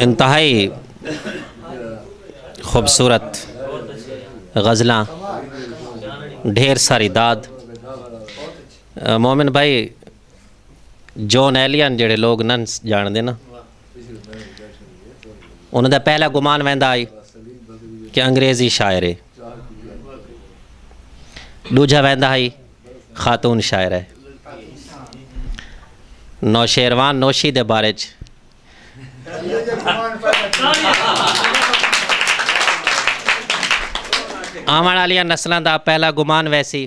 انتہائی خوبصورت غزلاں ڈھیر ساری داد مومن بھائی جون ایلین جڑے لوگ نہ جان دینا انہوں دا پہلا گمان ویندا آئی کہ انگریزی شاعر ہے ڈوجھا ویندا ہئی خاتون شاعر ہے نوشیروان نوشی دے بارے چ آوان والیاں نسلاں دا پہلا گمان ویسی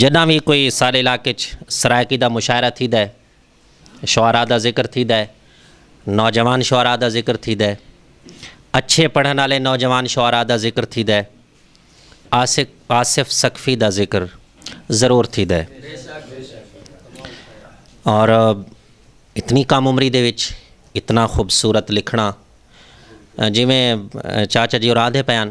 جݙاں وی کوئی ساݙے علاقے اچ سرائیکی دا مشاعرہ تھیدا ہے، شعراء دا ذکر تھیدا ہے، نوجوان شعراء دا ذکر تھیدا ہے، اچھے پڑھݨ آلے نوجوان شعراء دا ذکر تھیدا ہے، عاشق آصف ثقفی دا ذکر ضرور تھیدا ہے۔ اور اتنی کم عمری دے وچ اتنا خوبصورت لکھݨا جیویں چاچا جی اور آندھے پئے ہن۔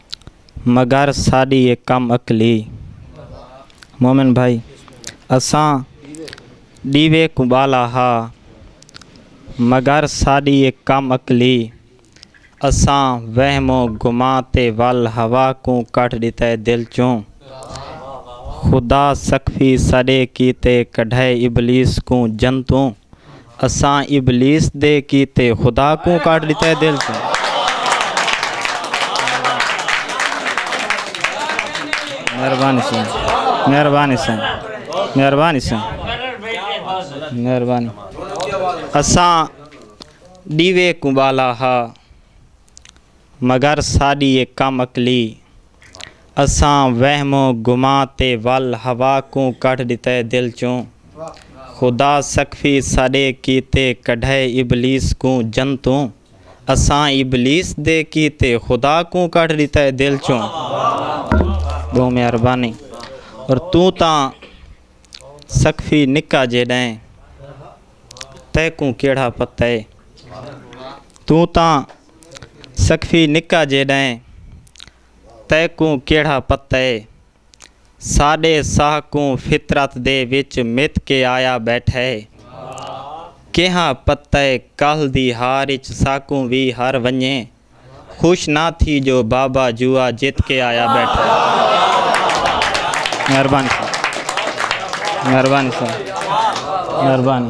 مگر ساݙی اے کم عقلی مومن بھائی اساں ݙیوے کوں ٻالا ہا مگر ساݙی اے کم عقلی اساں وہم و گمان تے ول ہوا کوں کڈھ ݙتے دل چوں خدا سقفی ساݙے کیتے کڈھائے ابلیس کوں جنتوں اساں ابلیس دے کیتے خدا کوں کڈھ ڈتا ہے دل توں۔ مہربانی سائیں مہربانی سائیں مہربانی سائیں مہربانی اساں ڈیوے کوں بالا ہا مگر ساݙی اے کم عقلی اساں وہم و گماں تے ول ہوا کوں کڈھ ݙتا ہے دل چوں۔ خدا سقفی ساݙے کیتے کڈھائے ابلیس کوں جنتوں اساں ابلیس دے کیتے خدا کوں کڈھ ݙتا ہے دل چوں۔ ٻہوں مہربانی اور توں تاں سقفی نکا جیݙا ہیں تیکوں کیڑھا پتہ ہے توں تاں سقفی نکا جیݙائیں تیکوں کیہڑا پتہ اے ساݙے ساہ کوں فطرت دے وچ مت کے آیا ٻیٹھا اے کیہاں پتہ اے کل دی ہار اچ ساکوں وی ہر ونڄے خوش نہ تھی جو بابا جوا جت کے آیا ٻیٹھا اے مہربانی مہربانی مہربانی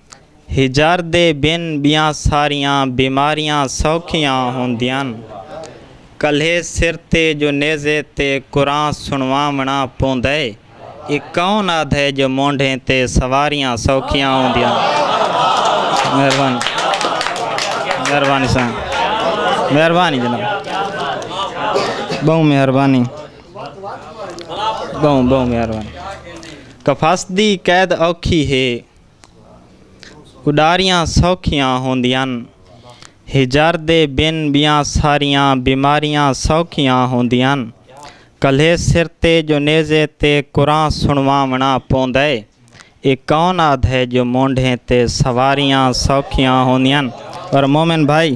ہجر دے بن ٻیاں ساریاں بیماریاں سوکھیاں ہوندیاں۔ کلھے سر تے جو نیزے تے قرآن سݨواوݨا پوندے۔ اے کون آدھے جو مونڈھیں تے سواریاں سوکھیاں ہوندیاں۔ مہربانی مہربانی سائیں مہربانی جناب ٻہوں مہربانی ٻہوں ٻہوں مہربانی۔ کفس دی قید اوکھی ہے۔ اݙاریاں سوکھیاں ہوندین ہجر دے بن ٻیاں ساریاں بیماریاں سوکھیاں ہوندین کلھے سر تے جو نیزے تے قرآں سݨواوݨاں پوندے اے کون آدھے جو مونڈھیں تے سواریاں سوکھیاں ہوندین اور مومن بھائی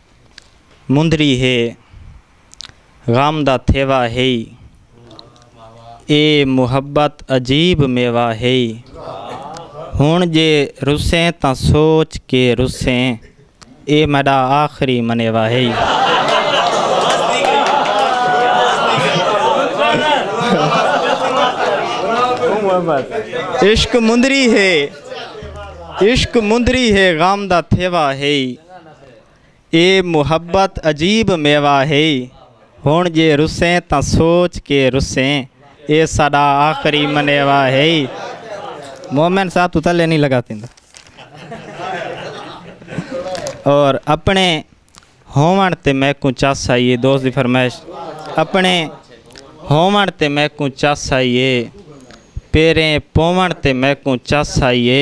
مندری ہے غم دا تھیوا ہئی اے محبت عجیب میوا ہئی ہن جے رسیں تاں سوچ کے رسیں اے میڈا آخری منیوا ہئی عشق مندری ہے عشق مندری ہے غم دا تھیوا ہئی اے محبت عجیب میوہ ہئی ہݨ جے رسیں تاں سوچ کے رسیں اے ساݙا آخری منیوہ ہئی مومن صاحب تو تلے نہیں لگا تیندا اور اپنے ہومن تے میں کو چس آئیے دوست دی فرمائش اپنے ہومن تے میں کو چس آئیے پیریں پومن تے میں کو چس آئیے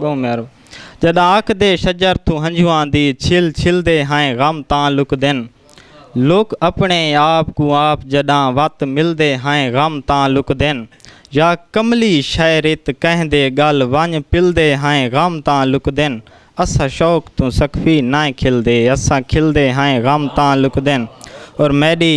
ڳوں میرو جݙاک دے شجر توں ہنجواں دی چھل چھلدے ہئیں غم تاں لکدن لوک اپݨے آپ کوں آپ جݙاں وت ملدے ہئیں غم تاں لکدن یا کملی شعریت کہیں دے ڳل ونڄ پلدے ہئیں غم تاں لکدن اساں شوق توں سقفی نئیں کھلدے اساں کھلدے ہئیں غم تاں لکدن اور میݙی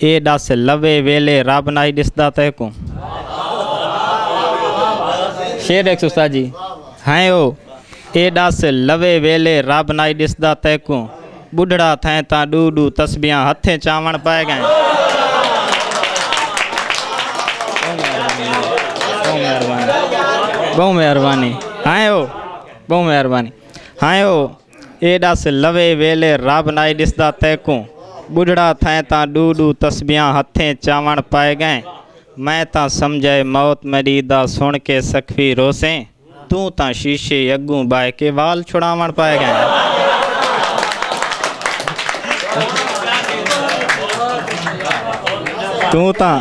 اے ڈس لوے ویلے رب نائی ڈسدا تیکوں شیر ایک سو ستاجی ہیں او اے ڈس لوے ویلے رب نائی ڈسدا تیکوں بڈھڑا تھیں تاں ڈو ڈو تسبیاں ہتھیں چاون پائے گئیں بہو مہربانی ہائیں او بہو مہربانی ہائیں او اے ݙس لوے ویلے رب نائے ݙسدا تیکوں ٻڈھڑا تھئیں تاں ݙو ݙو تسبیحاں ہتھیں چاوݨ پائے ڳئیں میں تاں سمجھئے موت میݙی دا سݨ کے سکھوی روسیں توں تاں شیشے اڳوں ٻہہ کے وال چھڑاوݨ پائے ڳئیں۔ توں تاں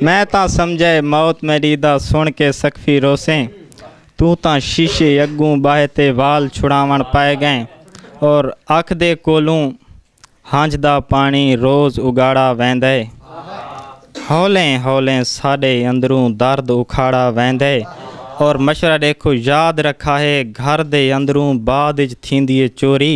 میں تاں سمجھئے موت میݙی دا سݨ کے سکھوی روسیں۔ توں تاں شیشے اگوں ٻہہ تے وال چھڑاوݨ پئے ڳئیں اور آکھدے کولوں ہنج دا پاݨی روز اگاڑا ویندے۔ ہولیں ہولیں ساݙے اندروں درد اکھاڑا ویندے اور مشورہ ݙیکھو یاد رکھاہے گھر دے اندروں بعد اچ تھیندی اے چوری۔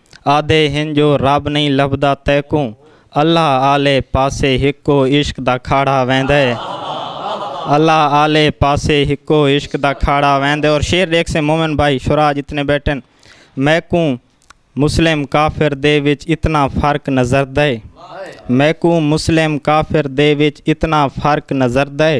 آہدے ہن جو رب نئیں لبھدا تیکوں اللہ آلے پاسے ہکو عشق دا کھاڑا ویندے اللہ آلے پاسے ہکو عشق دا کھاڑا ویندے اور شعر دیکھ سے مومن بھائی شراج اتنے بیٹھن میکوں مسلم کافر دے وچ اتنا فرق نظر دے میکوں مسلم کافر دے وچ اتنا فرق نظر دے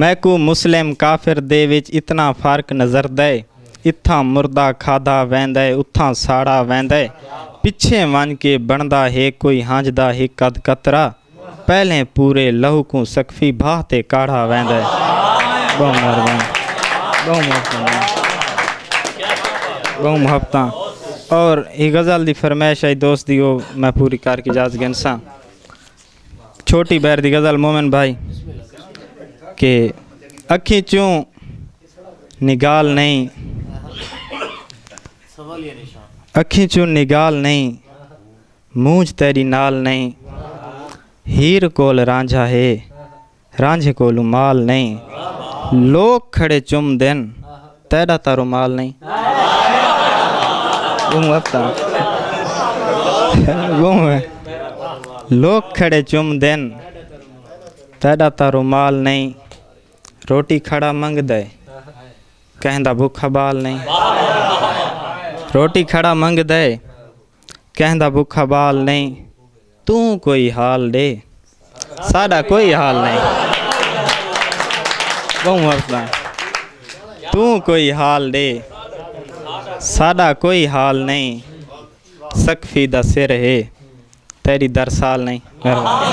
میکوں مسلم کافر دے وچ اتنا فرق نظردئے۔ اتھاں مردہ کھادا ویندئے اتھاں ساڑا ویندئے۔ پچھیں ونج کے بنڑدا ہے کوئی ہنج دا ہک ادھ قطرہ۔ پہلیں پورے لہو کوں سقفی بھاہ تے کاڑھا ویندئے۔ بہوں مہربانی۔ بہوں مہربانی۔ بہوں محبتاں۔ اور ایہ غزل دی فرمائش آئی دوست دی او میں پوری کر کے اجازت گھنساں۔ چھوٹی بہر دی غزل مومن بھائی کہ اکھی چوں نگال نہیں اکھی چوں نگال نہیں مونج تیری نال نہیں ہیر کول رانجھا ہے رانجھے کولوں مال نئیں لوک کھڑے چم دن تیڈا تاں رومال نئیں لوک کھڑے چم دن تیڈا تاں رومال نئیں روٹی کھڑا منگ دے کہیں دا بھوکا بال نئیں روٹی کھڑا منگ دے کہیں دا بھوکا بال نئیں توں کوئی حال ڈے ساڈا کوئی حال نئیں بہوں ہسدا توں کوئی حال ڈے ساڈا کوئی حال نئیں سقفی دا سر ہے تیری درسال نئیں مہربانی